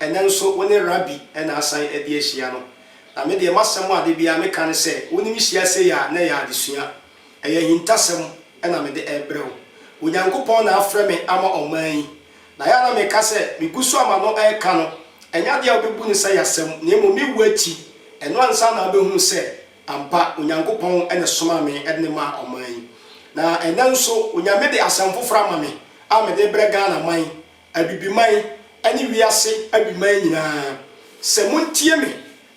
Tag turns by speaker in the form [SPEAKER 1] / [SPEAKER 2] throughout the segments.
[SPEAKER 1] Ɛnnɛ nso wo ne Rabbi na asan adi ahyia no. Na me deɛ m'asɛm a da biara meka ne sɛ, wo ne me hyia sei a, na ɛyɛ adesua. Ɛyɛ ahintasɛm na mede rebrɛ wo. Onyankopɔn na afrɛ me ama ɔman yi. Na yɛ a na meka sɛ, megu so a m'ano reka no, ɛnyɛ adeɛ a wobɛbu no sɛ yasɛm, na mmom me wu akyi, ɛno ansa na wobɛhunu sɛ ampa Onyankopɔn na ɛsomaa me de no maa ɔman yi. Na ɛnnɛ nso, Onyame de asɛm foforɔ ama me a mede rebrɛ Ghana man Abibiman ne wiase abiman nyinaa, sɛ montie me,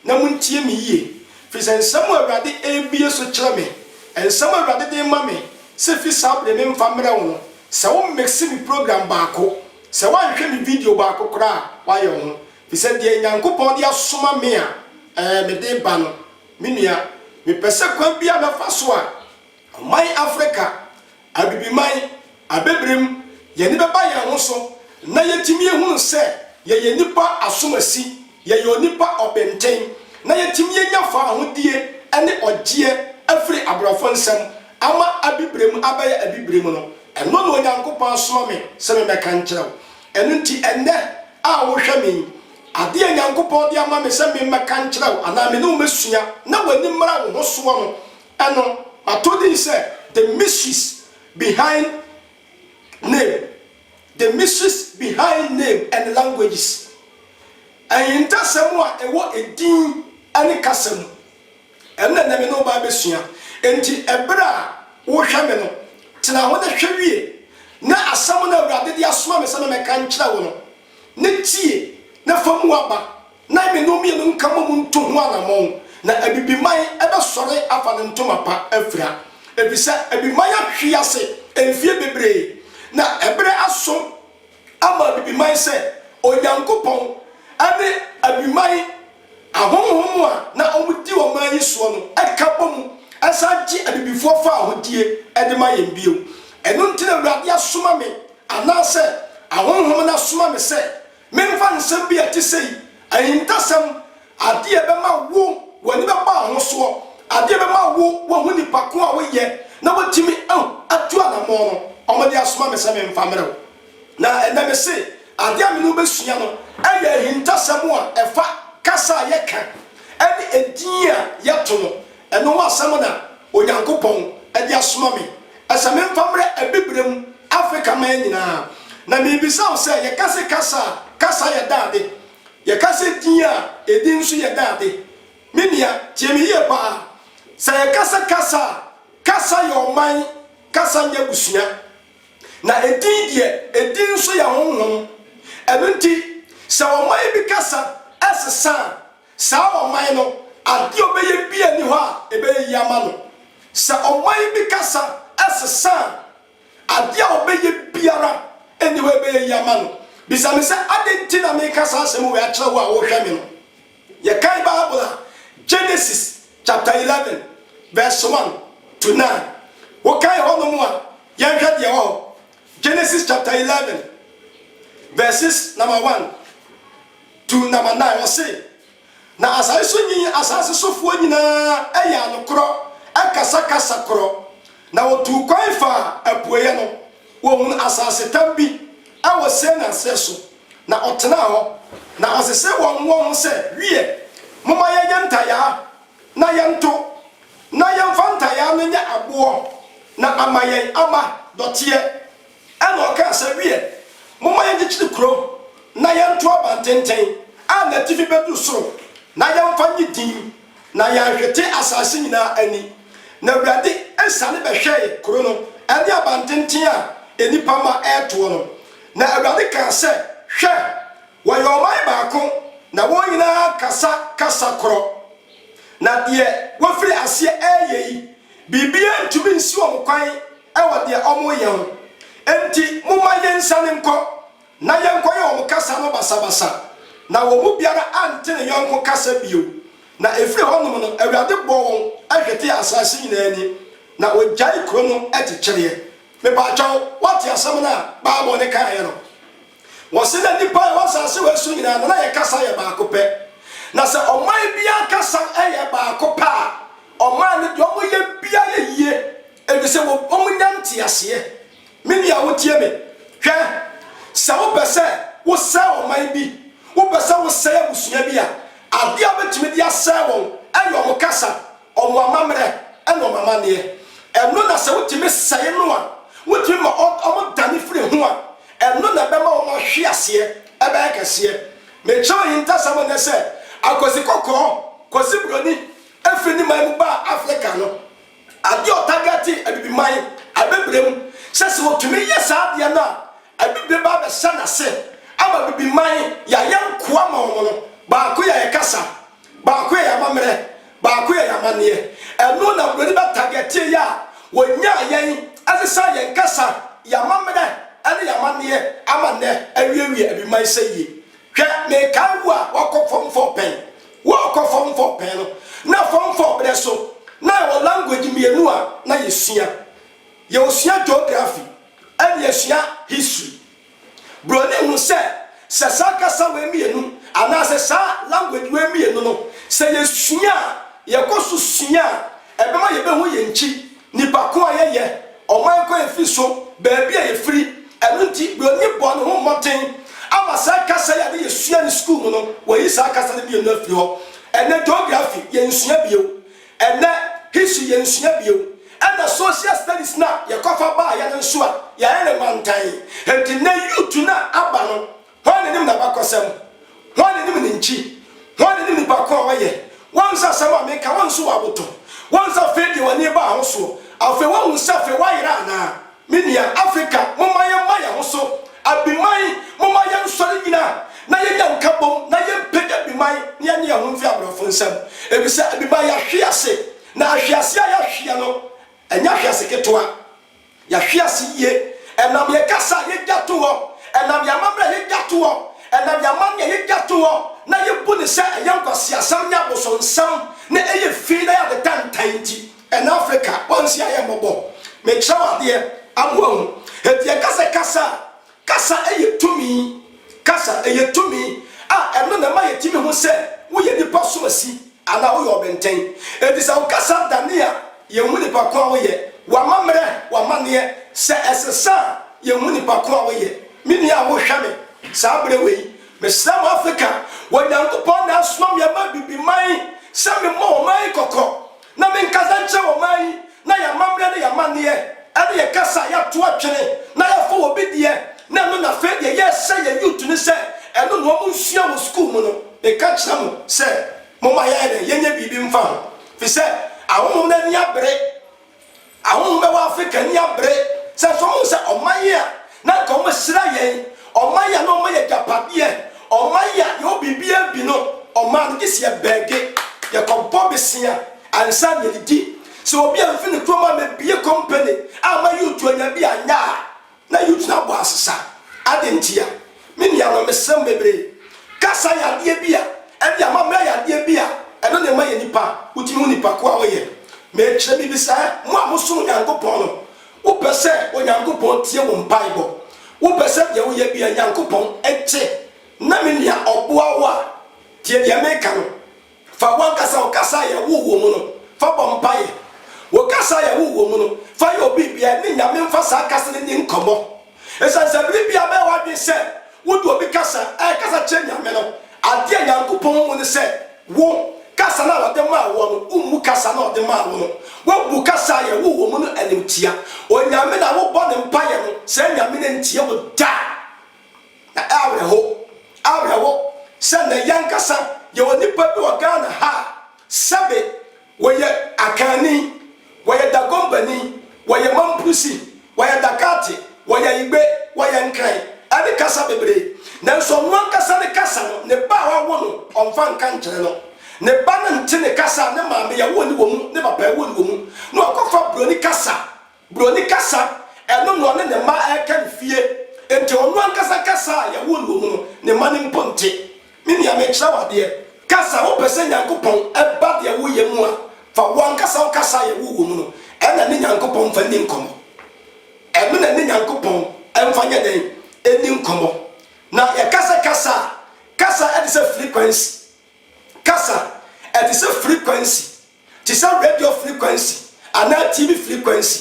[SPEAKER 1] na montie me yie, firi sɛ nsɛm a Awurade rebue so kyerɛ me, nsɛm a Awurade de rema me sɛ fi saa berɛ memfa mmrɛ wo no, sɛ wo mixe me program baako, sɛ woanhwɛ me video baako koraa a, woayɛ wo ho. Firi sɛ deɛ Nyankopɔn de asoma me a, ɛɛ, mede reba no. Me nua, mepɛ sɛ kwan biara a mɛfa so a. Aman Afrika, Abibiman, Abibirem, yɛn ani bɛba yɛn ho so na yɛatumi ahunu sɛ yɛyɛ nnipa asomasi, yɛyɛ onipa ɔbenten, na yɛatumi anya faahodie ne ɔgyeɛ afiri aborɔfo nsam ama Abibirem abɛyɛ Abibirem no, ɛno na Onyankopɔn asoma me sɛ memmɛka nkyerɛ wo. Ɛno nti ɛnnɛ a wohwɛ me yi, adeɛ a Nyankopɔn de ama me sɛ memmɛka nkyerɛ wo anaa me ne wo mmɛsua na w'ani mmra wo ho soɔ no, Ɛno ato din sɛ The Mysteries Behind Name, The Mysteries Behind Name and Languages, Ahintasɛm a Ɛwɔ Edin ne Kasa Mu. Ɛno na ɛnnɛ me ne wo bɛabɛsua. Enti bere a worehwɛ me no, tena ho na hwɛ wie, na asɛm no a Awurade de asoma me sɛ memmɛka nkyerɛ wo no, ne tie na fa mu aba. na mmene mmienu nka mmom ntu ho anammɔn, na abibiman bɛsɔre afa ne ntoma pa afira, efisɛ abibiman ahwe ase mfeɛ bebree, na ɛberɛ aso ama abibiman sɛ Onyankopɔn ne abiman ahonhom a na wɔdi ɔman yi soɔ no ka bɔ mu san gye abibifoɔ faahodie de ma yɛn bio. Ɛno nti na Awurade asoma me, anaasɛ ahonhom no asoma me sɛ Memfa nsɛm bi a ɛte sei, ahintasɛm, adeɛ a ɛbɛma wo w'ani bɛba ahosoɔ, adeɛ a ɛbɛma wo woahu nnipa ko a woyɛ na woatumi atu anammɔn no, wɔde asoma me sɛ memfa mmrɛ wo. Na ɛnnɛ mese, adeɛ a me ne wo bɛsua no yɛ ahintasɛm a ɛfa kasa a yɛka ne edin a yɛto no Ɛno ho asɛm na Onyankopɔn de asoma me sɛ memfa mmrɛ Abibirem Afrika man nyinaa. Na merebisa wo sɛ, yɛka se kasa a, kasa yɛ dɛ ade? Yɛka sɛ din a, edin nso yɛ dɛ ade? Me nua, tie me yie paa. Sɛ yɛka sɛ kasa a, kasa yɛ ɔman, kasa nyɛ abusua. Na edin deɛ, edin nso yɛ honhom. Ɛno nti, sɛ ɔman bi kasa sesa a, Saa ɔman no, adeɛ a ɔbɛyɛ biara nni hɔ a ɛbɛyɛ yie ama no. Sɛ ɔman bi kasa sesa a, adeɛ a ɔbɛyɛ biara nni hɔ a ɛbɛyɛ yie ama no. Bisa me sɛ, Adɛn nti na meka saa asɛm wei akyerɛ wo a worehwɛ me no? Yɛkan Bible a, Genesis chapter eleven verse one to nine. Wokan hɔnom a, yɛnhwɛ deɛ ɛwɔ hɔ. Genesis chapter eleven verses number one. Dunnam anan, ɔse, Na asaase so nyi asaase sofoɔ nyinaa yɛ anokorɔ kasa kasa korɔ, na wɔtuu kwan faa apueɛ no, wɔhunu asaasetam bi wɔ Sin aserɛ so, na ɔtenaa hɔ, na ɔsesee wɔn wɔn ho sɛ, Wiɛ, momma yɛnyɛ ntayaa na yɛnto, na yɛmfa ntayaa no nyɛ aboɔ, na ama yɛn ama dɔteɛ. Ɛnna ɔkaa sɛ, Wiɛ, momma yɛnkyekyere kurom na yɛnto abantenten a n'atifi bɛduru soro na yɛmfa nnye din, na yɛanhwete asase nyinaa ani. Na Awurade siane bɛhwɛe kuro no ne abantenten a nnipa mma retoɔ no. Na Awurade kaa sɛ, Hwɛ! Wɔyɛ ɔman baako, na wɔn nyinaa kasa kasa korɔ. Na deɛ wɔafiri aseɛ reyɛ yi, biribiara ntumi nsi wɔn kwan wɔ deɛ wɔreyɛ ho, enti momma yɛnsiane nkɔ, na yɛnkɔyɛ wɔn kasa no basabasa. Na wɔn mu biara ante ne yɔnko kasa bio. Na ɛfiri hɔnom no, Awurade bɔɔ wɔn hwetee asaase nyinaa ani, na ɔgyae kuro no kyekyɛreɛ. Mepaakyɛw, woate asɛm no a Bible no kaeɛ no? Wɔse na nnipa a ɛwɔ asaase wei so nyinaa no, na yɛ kasa yɛ baako pɛ. Na sɛ ɔman biara kasa yɛ baako pɛ a, ɔman no deɛ wɔyɛ biara yɛ yie. Efisɛ wɔnya nteaseɛ. Me nua wotie me? Hwɛ! Sɛ wopɛ sɛ wosɛe ɔman bi, wopɛ sɛ wosɛe abusua bi a, adeɛ a wobɛtumi de asɛe wɔn yɛ wɔn kasa, wɔn amammerɛ, ne wɔn amanneɛ. Ɛno na sɛ wotumi sɛe no a, wotumi ma wɔdane firi ho a, ɛno na ɛbɛma wɔn ahweaseɛ bɛyɛ kɛseɛ. Mekyerɛw ahintasɛm nnɛ sɛ, Akwasi Kɔkɔɔ, Kwasi Buroni, firi ne man mu baa Afrika no, Adeɛ a ɔtagɛte Abibiman abɛbrɛ mu sɛ sɛ ɔtumi yɛ saa adeɛ no a ɛbi bɛba abɛhyɛ n'ase ama Abibiman yɛayɛ nkoa ma wɔn no, baako yɛ yɛn kasa, baako yɛ yɛn amammerɛ, baako yɛ yɛn amanneɛ. Ɛno na Buroni bɛtagɛtee yɛn a wɔnyaa yɛn ɛsesaa yɛn kasa, yɛn amammerɛ ne yɛn amanneɛ ama nnɛ awiawie Abibiman sɛ yie. Hwɛ, merekae wo a woakɔ fam fɔɔ pɛn. Worekɔ fam fɔɔ pɛn no, na fam fɔɔ berɛ so na yɛwɔ language mmienu a na yɛsua. Yɛresua geography ɛnna yɛresua history. Buroni hunu sɛ, sɛ saa kasa wei mmienu anaasɛ saa language wei mmienu no, sɛ yɛsua a, yɛkɔ so sua a, Ɛbɛma yɛbɛhu yɛn nkyi, nnipa ko a yɛyɛ, ɔman ko a yɛfiri so, baabi a yɛfiri. Ɛno nti, Buroni bɔɔ ne ho mmɔden ama saa kasa yi a na yɛsua no sukuu mu no, wɔayi saa kasa no mmienu afiri hɔ. Ɛnnɛ, Geography yɛnsua bio. Ɛnnɛ, History yɛnsua bio. Ɛnna Social Studies no a yɛkɔfa baeɛ no nso a, yɛayɛ no mantan. Enti nnɛ, youth no a aba no, Hwan na onim n'abakɔsɛm? Hwan na onim ne nkyi? Hwan na onim nipa ko a ɔyɛ? Woahu sɛ asɛm a meka, wɔn nso wɔaboto? Woahu sɛ afei deɛ w'ani rebaa ho soɔ? Afei woahu sɛ afei woayera anaa? Me nua, Afrika, momma yɛmma yɛn ho so. Abiman, momma yɛnsɔre nnyina na yɛnyɛ nkabom na yɛmpagya Abiman na yɛnye yɛn ho mfiri aborɔfo nsam. Efisɛ Abiman, yɛahwe ase, na ahwease a yɛahweɛ no, ɛnyɛ ahwease ketewa. Yɛahwe ase yie ɛnam yɛn kasa a yɛgya to hɔ, ɛnam yɛn amammerɛ a yɛgya to hɔ, ɛnam yɛn amanneɛ a yɛgya to hɔ na yɛbu no sɛ ɛyɛ nkwaseasɛm ne abosonsɛm na ɛyɛ fi na ɛyɛ ade tantan nti. Ɛnnɛ Afrika, wɔnhyia yɛn mmɔbɔ. Mekyerɛw adeɛ ama wɔahu. Enti yɛka sɛ kasa a Kasa yɛ tumi. Kasa yɛ tumi a ɛno na ɛma yɛtumi hu sɛ woyɛ nipa asomasi anaa woyɛ ɔbenten. Enti sɛ wo kasa da ne a, yɛnhu nnipa ko a woyɛ. W'amammerɛ, w'amanneɛ, sɛ ɛsesa a, yɛnhu nipa ko a woyɛ. Me nua a wohwɛ me saa berɛ wei, mesrɛ mo Afrika, wɔ Nyankopɔn na asoma me aba Abibiman sɛ memmɔ ɔman yi kɔkɔ. Na menkasa nkyerɛ wɔn ɔman yi, na yɛn amammerɛ ne yɛn amanneɛ, ɛne yɛn kasa a yɛato atwene, na yɛafa obi deɛ, na ɛno na afei deɛ yɛrehyɛ yɛn youth no sɛ ɛno na wɔn nsua wɔ sukuu mu no, meka kyerɛ mo sɛ momma yɛnyɛ dɛn, yɛnyɛ biribi mfa ho, ɛfiri sɛ ahonhom no ani abere. Ahɔho bɛwɔ Afrika ani abere sɛ sɛ wɔhu sɛ ɔman a na anka wɔahyira yɛn, ɔman a na wɔma yɛn agyapadeɛ, ɔman a yɛwɔ biribiara bi no, ɔman no, gye sɛ yɛbɛɛge, yɛkɔbɔ bosea ansa na yɛadidi. Sɛ obi amfi ne kurom ammɛbue kɔmpani amma yɛn otuanya bi anyɛ a, Na Yudina bɔ asesa. Adɛn ntia? Me nuanom, mesrɛ mo bebree, kasa yɛ adeɛ bi a ɛde amammerɛ yɛ adeɛ bi a ɛno na ɛma yɛ nipa, wotumi hu nipa ko a woyɛ. Mekyerɛ mebisa ɛ, mo a mosom Onyankopɔn no, wopɛ sɛ Onyankopɔn tie wo mpaebɔ? Wopɛ sɛ deɛ woyɛ biara Nyankopɔn gye? Na me nua, ɔboa wo a, tie deɛ meka no, Fa w'ankasa wo kasa a yɛwoo wo mu no fa bɔ mpaeɛ. Wo kasa a yɛwoo wo mu no, fa yɛ obi biara ne Nyame mfa saa kasa no nni nkɔmmɔ. Ɛsiane sɛ bere biara bɛyɛ w'adwene sɛ wode obi kasa ɛrekasa kyerɛ Nyame no, adeɛ a Nyankopɔn hu ne sɛ wo, kasa no a ɔde maa woɔ no, wommu kasa no a ɔde maa wo no. Woabu kasa a yɛwoo wo mu no animtia. Onyame no a wobɔ no mpaeɛ no, saa Nyame no ntie wo da. Na ɛyɛ awerɛhow, awerɛhow sɛ nnɛ yɛn ankasa yɛwɔ nnipa bi wɔ Ghana ha a, sɛbe wɔyɛ Akanni, wɔyɛ Dagombani, wɔyɛ Mamprisi, wɔyɛ Dakate, wɔyɛ Igbe, wɔyɛ Nkran, ɛne kasa bebree, nanso ɔno ankasa ne kasa no, ne ba a wawo no, ɔmfa nka nkyerɛ no. Ne ba no nte ne kasa a ne maame a ɛwoo no wɔ mu, ne papa a ɛwoo no wɔ mu, na wakɔfa buroni kasa Buroni kasa, ɛno na ɔne ne mma reka no fie. Enti ɔno ankasa kasa a yɛwoo no wɔ mu no, ne mma no mpo nte. Me nua, merekyerɛ wo adeɛ. Ka sɛ wopɛ sɛ Nyankopɔn ba deɛ woyɛ mu a, fa wo ankasa wo kasa a yɛwoo wɔ mu no na ne Nyankopɔn mfa nni nkɔmmɔ. Ɛno na ne Nyankopɔn mfa nyɛ dɛn? Nni nkɔmmɔ. Na yɛka sɛ kasa a, kasa te sɛ frequency. Kasa te sɛ frequency. te sɛ radio frequency anaa TV frequency.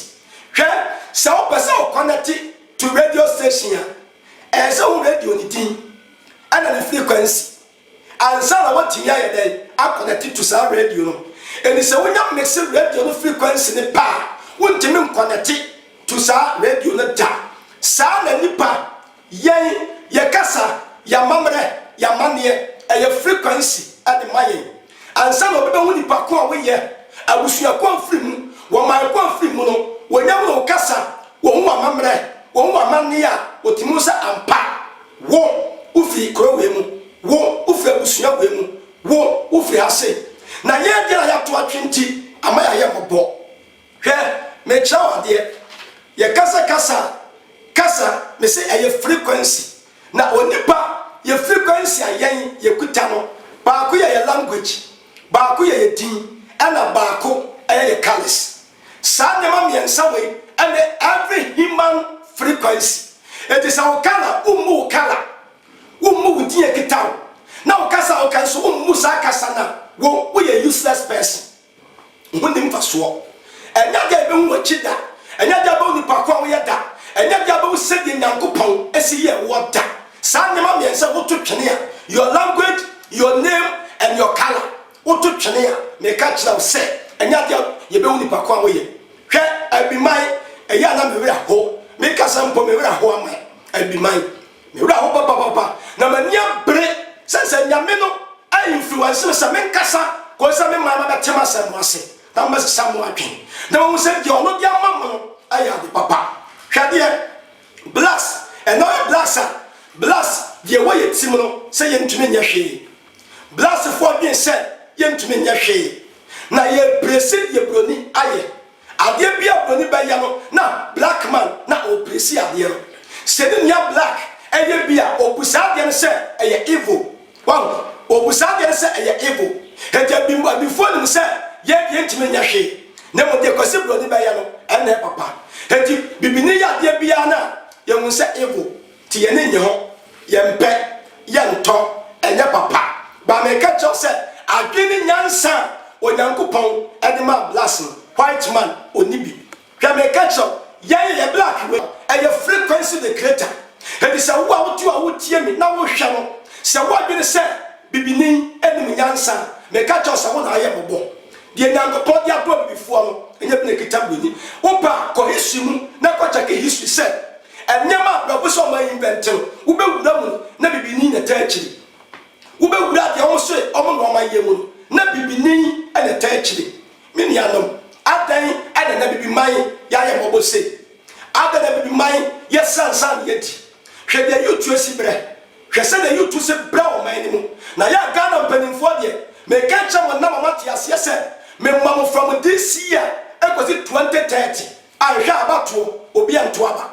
[SPEAKER 1] Hwɛ, sɛ wopɛ sɛ wo kɔnɛte to radio station a, ɛsɛ sɛ wohu radio no din ɛna ne frequency ansa na woatumi ayɛ dɛn akɔnɛte to saa radio no. Enti sɛ wonya mixed radio no frequency no pɛ a, wontumi nkɔnɛte to saa radio no da. Saa na nnipa Yɛn, yɛ kasa, yɛ amammerɛ, yɛ amanneɛ, ɛyɛ frequency de ma yɛn. Ansa na obi bɛhu nipa ko a woyɛ, abusua ko a wofiri mu, wɔ man ko a wofiri mu no, wɔnya hunu wo kasa, wɔhu w'amammerɛ, wɔhu w'amanneɛ a, wɔtumi hu sɛ ampa, wo, wofiri kuro wei mu, wo, wofiri abusua wei mu, wo, wofiri ha sei. Na yɛn deɛ a yɛato atwe nti, ama yɛayɛ mmɔbɔ. Hwɛ, merekyerɛ wo adeɛ. Yɛka sɛ kasa, kasa, mese ɛyɛ frequency. Na onipa, yɛ frequency a yɛn, yɛkuta no, baako yɛ yɛ language, baako yɛ yɛ din, ɛna baako yɛ yɛ colours. Saa nneɛma mmiɛnsa wei ne every human frequency. Enti sɛ wo colour, wommu wo colour, wommu wo din a ɛkita wo, na wo kasa a woka nso wommu saa kasa no a, wo, woyɛ useless person. Ho nni mfasoɔ. Ɛnyɛ adeɛ a yɛbɛhu akyi da. Ɛnyɛ adeɛ a yɛbɛhu nnipa ko a woyɛ da. Ɛnyɛ adeɛ a yɛbɛhu sɛdeɛ Nyankopɔn si yɛ woɔ da. Saa nneɛma mmiɛnsa yi, woto twene a, your language, your name and your colour, woto twene a, meka kyerɛ wo sɛ, ɛnyɛ adeɛ a yɛbɛhu nnipa ko a woyɛ. Hwɛ, Abiman, ɛyɛ a na me werɛ ho. Me kasa mpo, me werɛ ho ama Abiman. Me werɛ ahow papaapa, na m'ani abere sɛ sɛ Nyame no anfluence me sɛ menkasa kosi sɛ me man bɛte m'asɛm no ase na wɔbɛsesa wɔn adwene na wɔahu sɛ deɛ ɔno de ama mo no yɛ ade papa. Hwɛ adeɛ, Blacks, ɛnam yɛ Blacks a, Blacks deɛ ɛwɔ yɛn tirim no sɛ yɛntumi nyɛ hwee. Blacksfoɔ dwene sɛ yɛntumi nyɛ hwee, na yɛrepiresi deɛ Buroni ayɛ. Adeɛ biara a Broni bɛyɛ no na Black man na ɔreplesi adeɛ no. Sɛ ne nua Black yɛ bi a, ɔbu saa adeɛ no sɛ ɛyɛ evil. Wahu? Ɔbu saa adeɛ no sɛ ɛyɛ evil. Enti abi, abifoɔ nim sɛ yɛn deɛ ntumi nyɛ hwee. Na mmom deɛ Kwasi Broni bɛyɛ no, ɛnna ɛyɛ papa. Enti Bibini yɛ adeɛ biara no a, yɛhu sɛ evil. Te yɛne nnye ho, yɛmpɛ, yɛntɔ, ɛnyɛ papa. Baa meka kyerɛ wo sɛ adwene ne nyansa a Onyankopɔn de maa blacks no, white man ɔnni bi. Hwɛ meka kyerɛ wo, yɛn yɛyɛ black wei, ɛyɛ frequency the creator. Enti sɛ wo a wote hɔ a wotie me na wohwɛ no, sɛ woadwene sɛ bibini nnim nyansa a, meka kyerɛ wo sɛ wo na ayɛ mmɔbɔ. Deɛ Nyankopɔn de aboa bibifoɔ no, ɛnyɛ bi na ɛkita buroni. Wopɛ a, kɔ history mu na kɔ kyɛke history sɛ Nneɛma a bɛbu sɛ ɔman yi bɛnte no, wobɛwura mu na bibini na ɛtaa akyiri. Wobɛwura deɛ wɔn se wɔn na wɔn ayɛ mu no na bibini na ɛtaa akyiri. Me nuanom, adɛn na na bibiman yɛayɛ mmɔbɔ sei? Adɛn na bibiman yɛ sansan deɛ adi? Hwɛ deɛ Yutu asi berɛ. Hwɛ sɛdeɛ Yutu se brɛ ɔman no mu. Na yɛ a Ghana mpanimfoɔ deɛ, meka nkyerɛ mo nnɛ ma moate aseɛ sɛ, mema mo from this year kɔsi 2030. Anhwɛ a abatoɔ obi anto aba.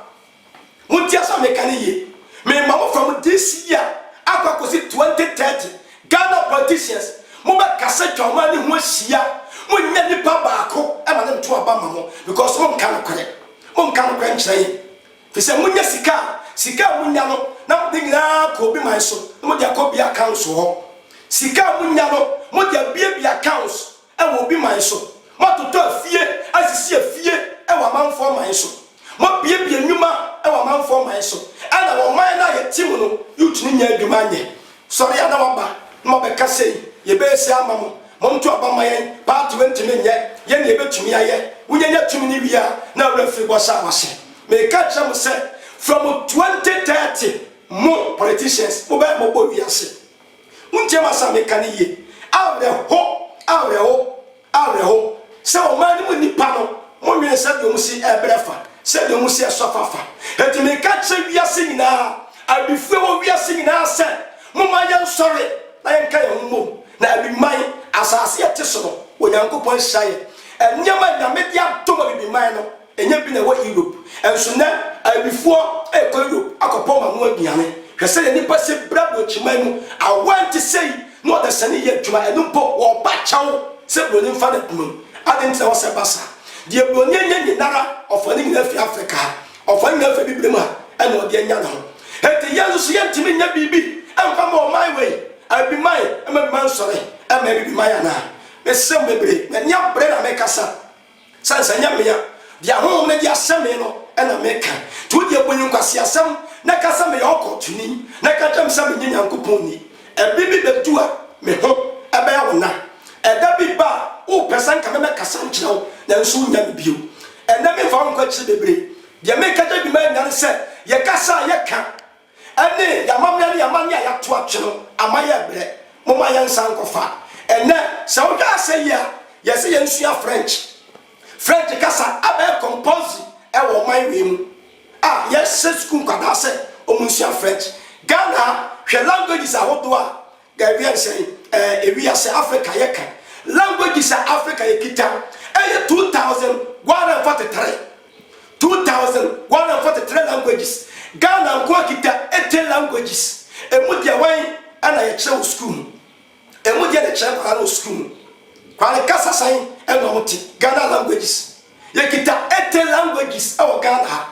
[SPEAKER 1] Montie asɛm a meka no yie. Mema mo from this year akɔ akɔsi 2030, Ghana politicians mobɛkasa atwa ɔman no ho ahyia a, monnya nnipa baako ma no nto aba mma mo because monka nokorɛ. Monka nokorɛ nkyerɛ yɛn. Firi sɛ monya sika a, sika a monya no na mode nyinaa kɔ obi man so na mode akɔ obi accounts hɔ. Sika a monya no mode abuebue accounts. Wɔ obi man so. Moatotɔ afie asisi afie wɔ amanfoɔ man so. Moabuebue nnwuma wɔ amanfoɔ man so. Ɛna ɔman no a yɛte mu no, yotumi nya adwuma nyɛ. Sɔre a na waba na wabɛka sei, yɛbɛyɛ sei ama mo, monto aba mma yɛn, paati wontumi nyɛ, yɛn na yɛbɛtumi ayɛ. Wonyanya tumi no wie a, na awura firi bɔ saa w'ase. Mereka akyerɛ mo sɛ, from 2030, mo, politicians, mobɛyɛ mmɔbɔ wiase. Wontie m'asɛm a meka no yiye. Awerɛho, awerɛho, awerɛho, sɛ ɔman no mu nnipa no, monnwen sɛdeɛ wɔsi rebrɛ afa, sɛdeɛ wɔsi resɔfa afa. Enti meka kyerɛ wiase nyinaa, awifo a ɛwɔ wiase nyinaa sɛ, Momma yɛnsɔre na yɛnka yɛn ho mmom, na abiman, asase a yɛte so no, Onyankopɔn nhyira yɛn. Nneɛma a Nyame de adom abibiman no, Enya bi na ɛwɔ Europe nso. Nnɛ, aebifoɔ rekɔ Europe akɔpɛ wɔn ano aduane. Hwɛ sɛdeɛ nnipa si bra Burokyiman mu. Awoa nte sei na ɔdasani yɛ adwuma. Ɛno mpo, wɔba kyɛw sɛ Buroni mfa n'adwumam. Adɛn nti na ɛwɔ sɛ ɛba saa? Deɛ Buroni anya nyinara, ɔfa ne nyinaa fi Afrika ha. Ɔfa ne nyinaa fi Abibirem ha na ɔde anya ne ho. Enti yɛn nso so yɛntumi nyɛ biribi mfa mma ɔman wei? Abiman, mma Abiman nsɔre mma Abibiman anaa? Mesrɛ mo bebree, m'ani abere na mekasa. Sane sɛ ɛnyɛ me a, deɛ Honhom no de ahyɛ me no na meka. Nti wo deɛ, bu me nkwaseasɛm na ka sɛ meyɛ ɔkɔmtoni, na ka kyerɛ me sɛ menyɛ Nyankopɔn ni. Ɛberɛ bi bɛdu a me ho bɛyɛ wo na. Ɛda bi ba a wopɛ sɛ anka mɛbɛkasa nkyerɛ wo, nanso worennya me bio. Ɛnnɛ memfa wo nkɔ akyiri bebree. Deɛ meka kyerɛ dwumayɛni no ara ne sɛ, yɛkasa a yɛka. Ɛne, yɛn amammerɛ ne yɛn amanneɛ a yɛato atwe no ama yɛrebrɛ. Momma yɛnsan nkɔfa. Ɛnnɛ, sɛ wohwɛ ase yie a, yɛse yɛnsua French. French kasa abɛyɛ compulsory wɔ ɔman wei mu a yɛhyɛ sukuu nkwadaa sɛ wɔnsua French. Ghana ha, hwɛ languages ahodoɔ a Dabi ɛnsɛn ɛɛ ewiase Africa yɛ kan languages a Africa yɛ kita ɛyɛ two thousand one hundred and forty three two thousand one hundred and forty three languages Ghana nko ara kita eighteen languages emu deɛ wɛn ɛna yɛ kyerɛ wɔ sukuu mu emu deɛ na ɛkyerɛ nkwadaa no wɔ sukuu mu kwale kasa sɛn ɛna ɔmo te Ghana languages. Yɛkita Ete languages wɔ Ghana ha.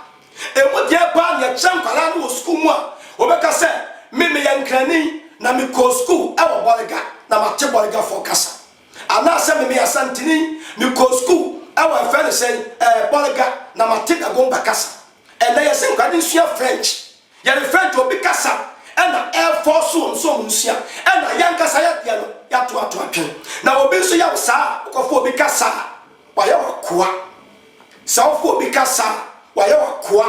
[SPEAKER 1] Ɛmu deɛ paa na yɛkyerɛ nkwadaa no wɔ sukuu mu a wɔbɛka sɛ, Me meyɛ Nkrani na mekɔɔ sukuu wɔ Bolga na mate Bolgafoɔ kasa. Anaasɛ Me meyɛ Asanteni, mekɔɔ sukuu wɔ yɛfrɛ no sɛn, ɛɛ Bolga na mate Dagomba kasa. Ɛnnɛ yɛse nkwadaa no nsua French. Yɛrefrɛ nti obi kasa na ɛfɔɔ so wɔn sɛ wɔn nsua na yɛn ankasa yɛdeɛ no yɛato ato atwɛn. Na obi nso yɛ wo saa a, wokɔfo obi kasa a, wayɛ wo akoa. Sɛ wofo obi kasa a, wayɛ wo akoa.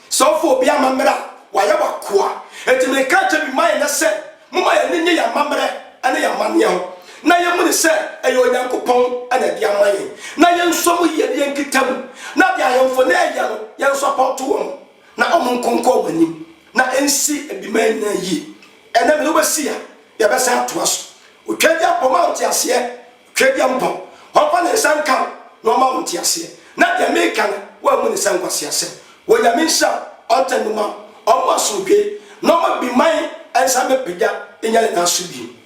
[SPEAKER 1] Sɛ wofo obi amammerɛ a, wayɛ wo akoa. Enti mereka akyerɛ bi ma yɛn nnɛ sɛ, momma yɛn ani nnye yɛn amammerɛ ne yɛn amanneɛ ho, na yɛmmu no sɛ ɛyɛ Onyankopɔn na ɛde ama yɛn, na yɛnsɔ mu yie ne yɛnkita mu, na deɛ ahemfo no reyɛ no, yɛnsɔpɔɔto wɔn. na ɔmo nkonkɔn w'anim na ɛnsi abima yi nyinaa yie. Ɛnɛ mede wobɛsi ha na yɛbɛsan atoa so. Otwaadiampɔ, ma wo nteaseɛ, Otwaadiampɔ, ɔmfa ne nsa nka wo na ɔmma wo nteaseɛ na deɛ meeka no woammu no sɛ nkwaseasɛm. Onyame nhyira wo, ɔntene mma wo, ɔmma wo asomdwoeɛ na ɔmma abiman nsa mmɛpagya nyɛ ne nan so bio.